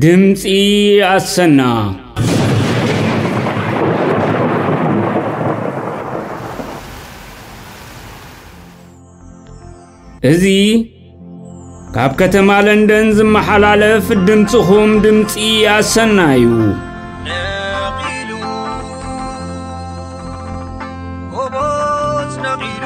ድምፂ ኣሰና እዚ ካብ ከተማ ለንደን ዝመሓላለፍ ድምፅኹም ድምፂ ኣሰና እዩ ነቒሉ ጎቦዝ ነቒሉ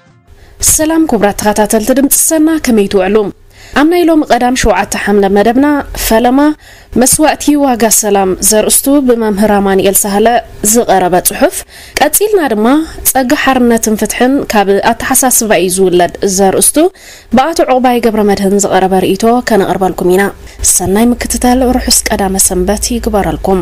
ሰላም ኩቡራት ተኸታተልቲ ድምፂ ሰና ከመይ ትውዕሉ? ኣብ ናይ ሎሚ ቀዳም ሸውዓተ ሓምለ መደብና ፈለማ መስዋእቲ ዋጋ ሰላም ዘርእስቱ ብመምህር ኣማንኤል ሳህለ ዝቐረበ ጽሑፍ ቀጺልና ድማ ጸጋ ሓርነትን ፍትሕን ካብ ኣተሓሳስባ እዩ ዝውለድ ዘርእስቱ ብኣቶ ዕቑባይ ገብረ መድህን ዝቐረበ ርእይቶ ከነቕርበልኩም ኢና። ሰናይ ምክትታል ርሑስ ቀዳመ ሰንበት ይግበረልኩም።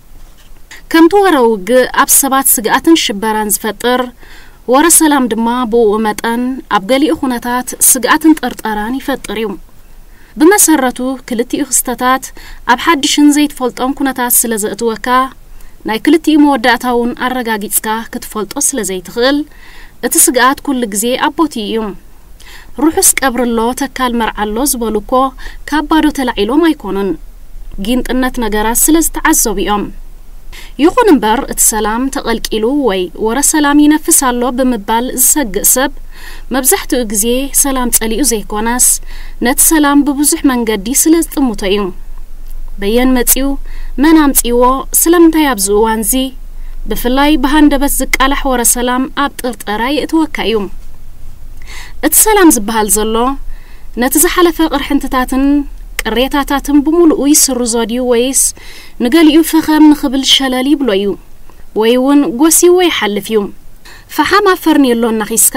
ከምቲ ወረ ውግእ ኣብ ሰባት ስግኣትን ሽበራን ዝፈጥር፣ ወረ ሰላም ድማ ብእኡ መጠን ኣብ ገሊኡ ኩነታት ስግኣትን ጥርጠራን ይፈጥር እዩ። ብመሰረቱ ክልቲኡ ክስተታት ኣብ ሓድሽን ዘይትፈልጦን ኩነታት ስለ ዘእትወካ፣ ናይ ክልቲኡ መወዳእታ'ውን ኣረጋጊጽካ ክትፈልጦ ስለ ዘይትኽእል፣ እቲ ስግኣት ኩሉ ግዜ ኣብ ቦትኡ እዩ። ርሑስ ቀብሪ ኣሎ ተካል መርዓ ኣሎ ዝበሉ እኮ ካብ ባዶ ተላዒሎም ኣይኮኑን። ጊንጥነት ነገራት ስለ ዝተዓዘቡ እዮም። ይኹን እምበር እቲ ሰላም ተቐልቂሉ ወይ ወረ ሰላም ይነፍስ ኣሎ ብምባል ዝሰግእ ሰብ መብዛሕትኡ ግዜ ሰላም ጸሊኡ ዘይኮነስ ነቲ ሰላም ብብዙሕ መንገዲ ስለ ዝጥምቶ እዩ። በየን መጺኡ? መን ኣምጺእዎ? ስለምንታይ ኣብዚ እዋንዚ? ብፍላይ ብሃንደበት ዝቃላሕ ወረ ሰላም ኣብ ጥርጠራ የእትወካ እዩ። እቲ ሰላም ዝበሃል ዘሎ ነቲ ዝሓለፈ ቅርሕንትታትን ቅሬታታትን ብሙሉኡ ይስርዞ ድዩ ወይስ ንገሊኡ ፈኸም ንኽብል ሸለል ይብሎ እዩ ወይ እውን ጎስይዎ ይሓልፍ እዩ። ፈሓም ኣብ ፈርኔሎ እናኺስካ፣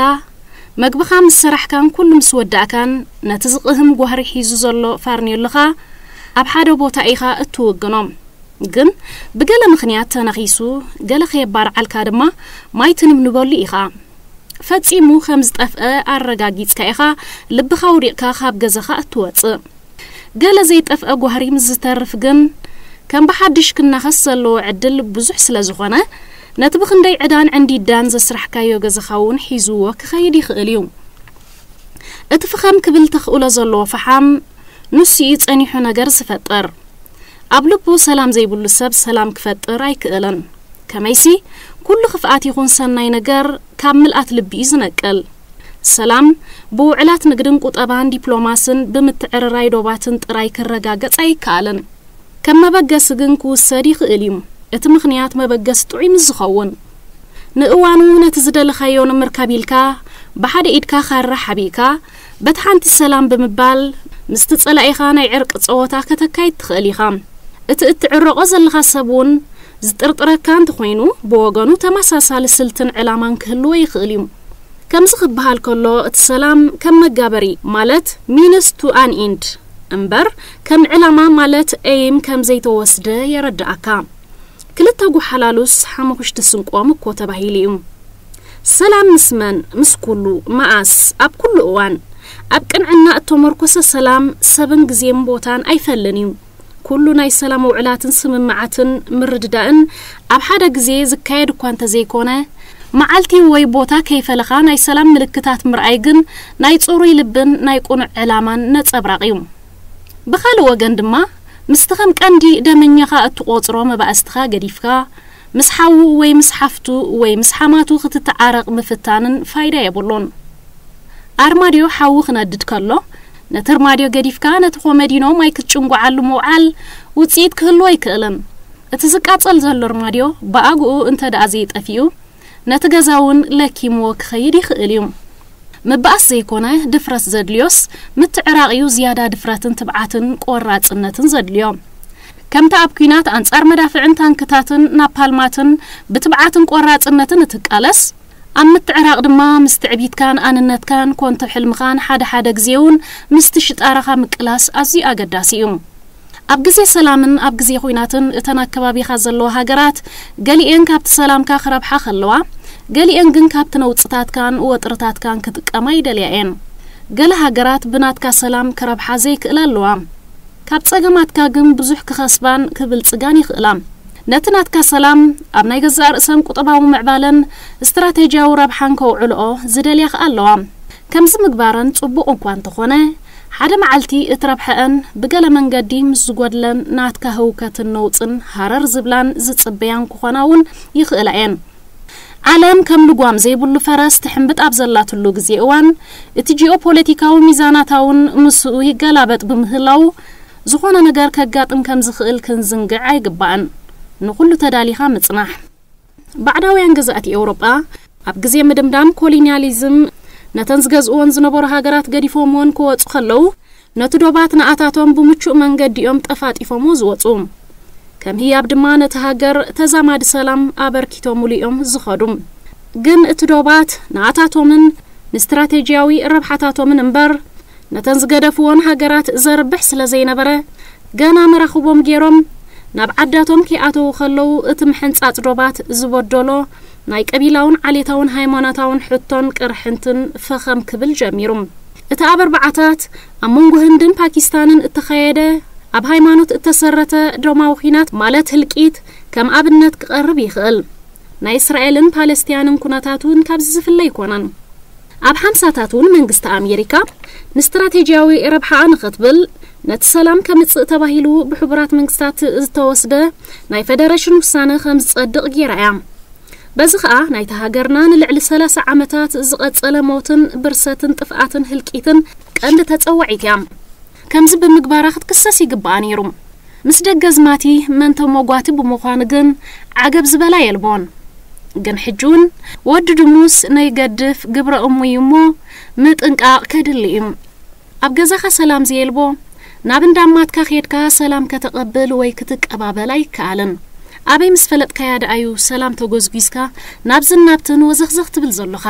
መግብኻ ምስ ሰራሕካን ኩሉ ምስ ወዳእካን ነቲ ዝቕህም ጓህሪ ሒዙ ዘሎ ፋርኔሎኻ ኣብ ሓደ ቦታ ኢኻ እትውግኖ። ግን ብገለ ምኽንያት ተነኺሱ ገለ ከየባርዓልካ ድማ ማይ ትንብንበሉ ኢኻ። ፈጺሙ ከም ዝጠፍአ ኣረጋጊጽካ ኢኻ ልብኻ ኣውዲቕካ ካብ ገዛኻ እትወጽእ። ገለ ዘይጠፍኣ ጓህሪ ምስ ዝተርፍ ግን ከም ብሓድሽ ክናኸስ ዘለዎ ዕድል ብዙሕ ስለ ዝኾነ ነቲ ብኽንደይ ዕዳን ዕንዲዳን ዘስራሕካዮ ገዛኻ እውን ሒዝዎ ክኸይድ ይኽእል እዩ። እቲ ፍኸም ክብል ተኽእሎ ዘለዎ ፈሓም ንሱ እዩ ጸኒሑ ነገር ዝፈጥር። ኣብ ልቡ ሰላም ዘይብሉ ሰብ ሰላም ክፈጥር ኣይክእልን። ከመይሲ ኩሉ ክፍኣት ይኹን ሰናይ ነገር ካብ ምልኣት ልቢ እዩ ዝነቅል። ሰላም ብውዕላት ንግድን ቁጠባን ዲፕሎማስን ብምትዕርራይ ዶባትን ጥራይ ክረጋገጽ ኣይከኣልን። ከም መበገሲ ግን ክውሰድ ይኽእል እዩ፣ እቲ ምኽንያት መበገሲ ጥዑይ ምስ ዝኸውን። ንእዋኑ ነቲ ዝደለኻዮ ንምርካብ ኢልካ ብሓደ ኢድካ ካራ ሓቢእካ፣ በቲ ሓንቲ ሰላም ብምባል ምስቲ ጸላኢኻ ናይ ዕርቂ ጸወታ ከተካይድ ትኽእል ኢኻ። እቲ እትዕረቖ ዘለኻ ሰብ እውን ዝጥርጥረካ እንተኾይኑ ብወገኑ ተመሳሳሊ ስልትን ዕላማን ክህልዎ ይኽእል እዩ። ከምዚ ክበሃል ከሎ እቲ ሰላም ከም መጋበሪ ማለት Means to an End እምበር ከም ዕላማ ማለት Aim ከምዘይተወስደ የረደኣካ። ክልተ ጎሓላሉስ ሓሙኽሽቲ ስንቆም እኮ ተባሂሉ እዩ። ሰላም ምስ መን ምስ ኩሉ፣ መኣስ፣ ኣብ ኩሉ እዋን። ኣብ ቅንዕና እተሞርኮሰ ሰላም ሰብን ግዜን ቦታን ኣይፈልን እዩ። ኩሉ ናይ ሰላም ውዕላትን ስምምዓትን ምርድዳእን ኣብ ሓደ ግዜ ዝካየድ እኳ እንተዘይኮነ፣ መዓልቲ ወይ ቦታ ከይፈለኻ ናይ ሰላም ምልክታት ምርኣይ ግን ናይ ጽሩይ ልብን ናይ ቅኑዕ ዕላማን ነጸብራቕ እዩ። ብኻልእ ወገን ድማ ምስቲ ከም ቀንዲ ደመኛኻ እትቖጽሮ መባእስትኻ ገዲፍካ፣ ምስ ሓዉ ወይ ምስ ሓፍቱ ወይ ምስ ሓማቱ ክትተዓረቕ ምፍታንን ፋይዳ የብሉን። ኣርማድዮ ሓዊ ክነድድ ከሎ፣ ነቲ ኣርማድዮ ገዲፍካ ነቲ ኮመዲኖ ማይ ክትጭንጉዓሉ ምውዓል ውጽኢት ክህልዎ ኣይክእልን። እቲ ዝቃጸል ዘሎ ኣርማድዮ ብኣግኡ እንተድኣ ዘይጠፊኡ፣ ነቲ ገዛ እውን ለኪምዎ ክኸይድ ይኽእል እዩ። ምባኣስ ዘይኮነ ድፍረት ዘድልዮስ ምትዕራቕ እዩ ዝያዳ ድፍረትን ትብዓትን ቆራጽነትን ዘድልዮ። ከምታ ኣብ ኲናት ኣንጻር መዳፍዕን ታንክታትን ናፓልማትን ብትብዓትን ቆራጽነትን እትቃለስ፣ ኣብ ምትዕራቕ ድማ ምስ ትዕቢትካን ኣንነትካን ኮንቶ ሕልምኻን ሓደ ሓደ ግዜ'ውን ምስቲ ሽጣራኻ ምቅላስ ኣዝዩ ኣገዳሲ እዩ። ኣብ ግዜ ሰላምን ኣብ ግዜ ኹናትን እተን ኣብ ከባቢኻ ዘለዋ ሃገራት ገሊኤን ካብቲ ሰላምካ ክረብሓ ከለዋ ገሊኤን ግን ካብቲ ነውጽታትካን ወጥርታትካን ክጥቀማ ይደልያ እየን። ገለ ሃገራት ብናትካ ሰላም ክረብሓ ዘይክእላ ኣለዋ። ካብ ጸገማትካ ግን ብዙሕ ክኸስባን ክብልጽጋን ይኽእላ። ነቲ ናትካ ሰላም ኣብ ናይ ገዛእ ርእሰን ቁጠባዊ ምዕባለን ስትራተጂያዊ ረብሓን ከውዕልኦ ዝደልያ ከኣ ኣለዋ። ከምዚ ምግባረን ጽቡቕ እኳ እንተኾነ፣ ሓደ መዓልቲ እቲ ረብሐኣን ብገለ መንገዲ ምስ ዝጎድለን ናትካ ህውከትን ነውጽን ሃረር ዝብላን ዝጽበያን ክኾና እውን ይኽእላ እየን። ዓለም ከም ልጓም ዘይብሉ ፈረስ ትሕምብጥ ኣብ ዘላትሉ ግዜ እዋን፣ እቲ ጂኦፖለቲካዊ ሚዛናታ እውን ምስኡ ይገላበጥ ብምህላዉ፣ ዝኾነ ነገር ከጋጥም ከም ዝኽእል ክንዝንግዕ ኣይግባእን። ንኹሉ ተዳሊኻ ምጽናሕ። ባዕዳውያን ገዛእቲ ኤውሮጳ፣ ኣብ ግዜ ምድምዳም ኮሊንያሊዝም፣ ነተን ዝገዝእወን ዝነበሩ ሃገራት ገዲፎምወን ክወጹ ከለዉ፣ ነቲ ዶባት ንኣታቶም ብምቹእ መንገዲ እዮም ጠፋጢፎምዎ ዝወጹ። ከም ህያብ ድማ ነቲ ሃገር ተዛማዲ ሰላም ኣበርኪቶምሉ እዮም ዝኸዱ። ግን እቲ ዶባት ንኣታቶምን ንስትራቴጂያዊ ረብሓታቶምን እምበር፣ ነተን ዝገደፍወን ሃገራት ዘርብሕ ስለ ዘይነበረ፣ ገና መራኽቦም ገይሮም ናብ ዓዳቶም ከይኣተዉ ከለዉ እቲ ምሕንጻጽ ዶባት ዝበደሎ ናይ ቀቢላውን ዓሌታውን ሃይማኖታውን ሕቶን ቅርሕንትን ፈኸም ክብል ጀሚሩ። እቲ ኣብ ኣርብዓታት ኣብ መንጎ ህንድን ፓኪስታንን እተኻየደ ኣብ ሃይማኖት እተሰረተ ደማዊ ኲናት ማለት ህልቂት ከም ኣብነት ክቐርብ ይኽእል። ናይ እስራኤልን ፓለስቲያንን ኩነታት እውን ካብዚ ዝፍለ ኣይኮነን። ኣብ ሓምሳታት እውን መንግስቲ ኣሜሪካ ንስትራቴጂያዊ ረብሓኣ ንኽትብል ነቲ ሰላም ከምጽእ ተባሂሉ ብሕቡራት መንግስታት ዝተወስደ ናይ ፈደረሽን ውሳነ ከም ዝጸድቕ ገይራ እያ። በዚ ከኣ ናይታ ሃገርና ንልዕሊ ሰላሳ ዓመታት ዝቐጸለ ሞትን ብርሰትን ጥፍኣትን ህልቂትን ቀንዲ ተጸዋዒት እያ። ከምዚ ብምግባራ ክትክሰስ ይግብኣ ነይሩ። ምስ ደገዝማቲ መን ተሞጓቲ ብምዃኑ ግን ዓገብ ዝበላ የልቦን። ግን ሕጂውን ወዲ ድሙስ ነይገድፍ ግብረ እሙ እዩ እሞ ምጥንቃቕ ከድሊ እዩ። ኣብ ገዛኻ ሰላም ዘየልቦ ናብ እንዳ ኣማትካ ኬድካ ሰላም ከተቐብል ወይ ክትቀባበል ኣይከኣልን። ኣበይ ምስ ፈለጥካያ ደኣዩ ሰላም ተጎዝጒዝካ ናብዝን ናብትን ወዘኽዘኽ ትብል ዘሎኻ።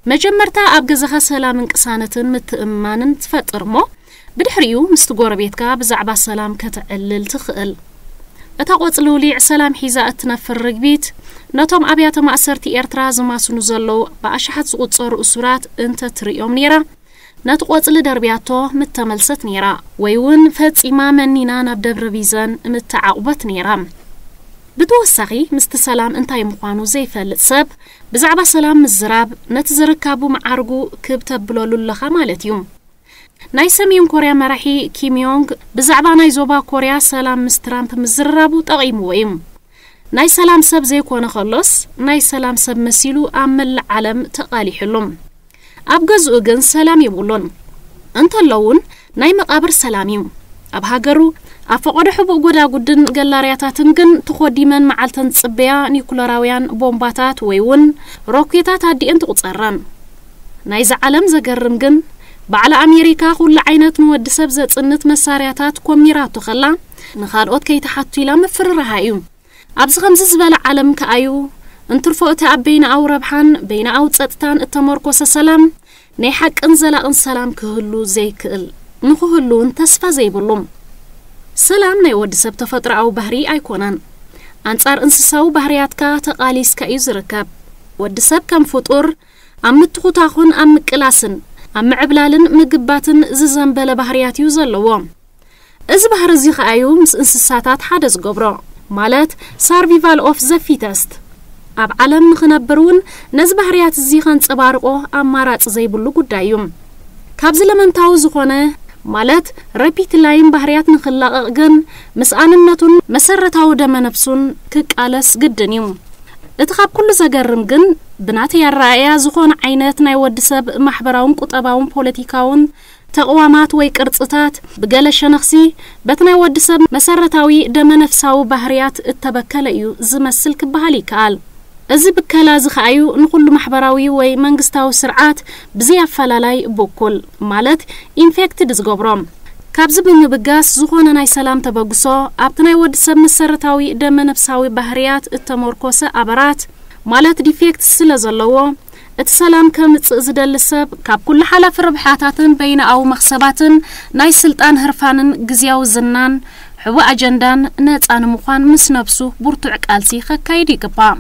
መጀመርታ ኣብ ገዛኻ ሰላምን ቅሳነትን ምትእምማንን ትፈጥር እሞ ብድሕሪኡ ምስቲ ጎረቤትካ ብዛዕባ ሰላም ከተዕልል ትኽእል። እታ ቆጽልውሊዕ ሰላም ሒዛ እትነፍር ርግቢት ነቶም ኣብያተ ማእሰርቲ ኤርትራ ዝማስኑ ዘለዉ ብኣሽሓት ዝቑጸሩ እሱራት እንተ ትርእዮም ነይራ ነቲ ቆጽሊ ደርብያቶ ምተመልሰት ነይራ። ወይ እውን ፈጺማ መኒና ናብ ደብረ ቢዘን ምተዓቝበት ነይራ። ብተወሳኺ ምስቲ ሰላም እንታይ ምዃኑ ዘይፈልጥ ሰብ ብዛዕባ ሰላም ምዝራብ ነቲ ዝርካቡ መዓርጉ ክብ ተብሎሉ ኣለኻ ማለት እዩ። ናይ ሰሜን ኮርያ መራሒ ኪም ዮንግ ብዛዕባ ናይ ዞባ ኮርያ ሰላም ምስ ትራምፕ ምዝርራቡ ጠቒምዎ እዩ። ናይ ሰላም ሰብ ዘይኮነ ከሎስ ናይ ሰላም ሰብ መሲሉ ኣብ መላእ ዓለም ተቓሊሑሉ። ኣብ ገዝኡ ግን ሰላም የብሉን እንተሎ ውን ናይ መቃብር ሰላም እዩ ኣብ ሃገሩ ኣብ ፈቆዶ ሕቡእ ጎዳጉድን ገላርያታትን ግን ተኾዲመን መዓልተን ዝጽበያ ኒኩለራውያን ቦምባታት ወይ ውን ሮኬታት ኣዲኤን ትቁጸረን ናይዛ ዓለም ዘገርም ግን ባዕላ ኣሜሪካ ኩሉ ዓይነት ንወዲ ሰብ ዘጽንት መሳርያታት ኮሚራቶ ከላ ንካልኦት ከይትሓቱ ኢላ ምፍርራሃ እዩ ኣብዚ ከምዚ ዝበለ ዓለም ከኣዩ፣ እንትርፎ እቲ ኣብ በይነኣዊ ረብሓን በይነኣዊ ጸጥታን እተመርኮሰ ሰላም፣ ናይ ሓቅን ዘላቕን ሰላም ክህሉ ዘይክእል፣ ንክህሉውን ተስፋ ዘይብሉ። ሰላም ናይ ወዲ ሰብ ተፈጥሮኣዊ ባህርይ ኣይኮነን። ኣንጻር እንስሳዊ ባህርያትካ ተቓሊስካ እዩ ዝርከብ። ወዲ ሰብ ከም ፍጡር፣ ኣብ ምትኹታኹን ኣብ ምቅላስን ኣብ ምዕብላልን ምግባትን ዝዘንበለ ባህርያት እዩ ዘለዎ። እዚ ባህሪ እዚ ከኣ እዩ ምስ እንስሳታት ሓደ ዝገብሮ ማለት ሳርቪቫል ኦፍ ዘ ፊተስት። ኣብ ዓለም ንኽነብር እውን ነዚ ባህርያት እዚ ከንጸባርቆ ኣማራጺ ዘይብሉ ጉዳይ እዩ። ካብዚ ለመንታዊ ዝኾነ ማለት ረፒትላይን ባህርያት ንኽላቐቕ ግን ምስ ኣንነቱን መሰረታዊ ደመ ነፍሱን ክቃለስ ግድን እዩ። እቲ ካብ ኩሉ ዘገርም ግን ብናተይ ኣረኣእያ ዝኾነ ዓይነት ናይ ወዲ ሰብ ማሕበራውን ቁጠባውን ፖለቲካውን ተቕዋማት ወይ ቅርጽታት፣ ብገለ ሸነኽሲ በቲ ናይ ወዲ ሰብ መሰረታዊ ደመነፍሳዊ ባህርያት እተበከለ እዩ ዚመስል ኪበሃል ይከኣል። እዚ ብከላ እዚ ኸኣ እዩ ንዅሉ ማሕበራዊ ወይ መንግስታዊ ስርዓት ብዘይ ኣፈላላይ ብኩል፣ ማለት ኢንፌክትድ፣ ዚገብሮ። ካብዚ ብምብጋስ፣ ዝዀነ ናይ ሰላም ተበግሶ፣ ኣብቲ ናይ ወዲ ሰብ መሰረታዊ ደመነፍሳዊ ባህርያት እተመርኰሰ ኣበራት፣ ማለት ዲፌክትስ፣ ስለ ዘለዎ፣ እቲ ሰላም ከምጽእ ዝደሊ ሰብ፣ ካብ ኩሉ ሓላፊ ርብሓታትን በይናኣዊ መኽሰባትን፣ ናይ ስልጣን ህርፋንን ግዝያዊ ዝናን፣ ሕቡእ ኣጀንዳን፣ ነጻ ንምዃን ምስ ነብሱ ቡርቱዕ ቃልሲ ከካይድ ይግባእ።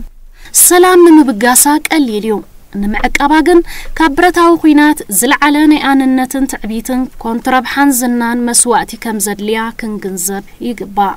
ሰላም ንምብጋሳ ቀሊል እዩ፣ ንምዕቃባ ግን ካብ ብረታዊ ኩናት ዝልዓለ ናይ ኣንነትን ትዕቢትን፣ ኮንቱ ረብሓን ዝናን መስዋእቲ ከምዘድልያ ክንግንዘብ ይግባእ።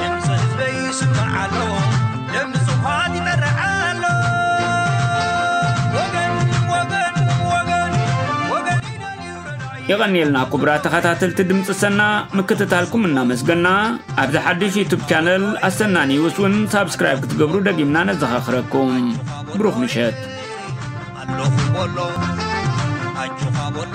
ድምፂ ህዝበይ ይስማዕ ኣሎ ለምፁፋት ይጠርዕ ኣሎ ወገን ወገን ወገን ወገን ይደልዩ ረዳኢ የቐንየልና ክቡራት ተኸታተልቲ ድምፂ ሰና ምክትታልኩም እናመስገና ኣብዚ ሓድሽ ዩቱብ ቻነል ኣሰና ኒውስ እውን ሳብስክራይብ ክትገብሩ ደጊምና ነዘኻኽረኩም ብሩኽ ምሸት ኣለኹ በሎ ኣጆኻ በሎ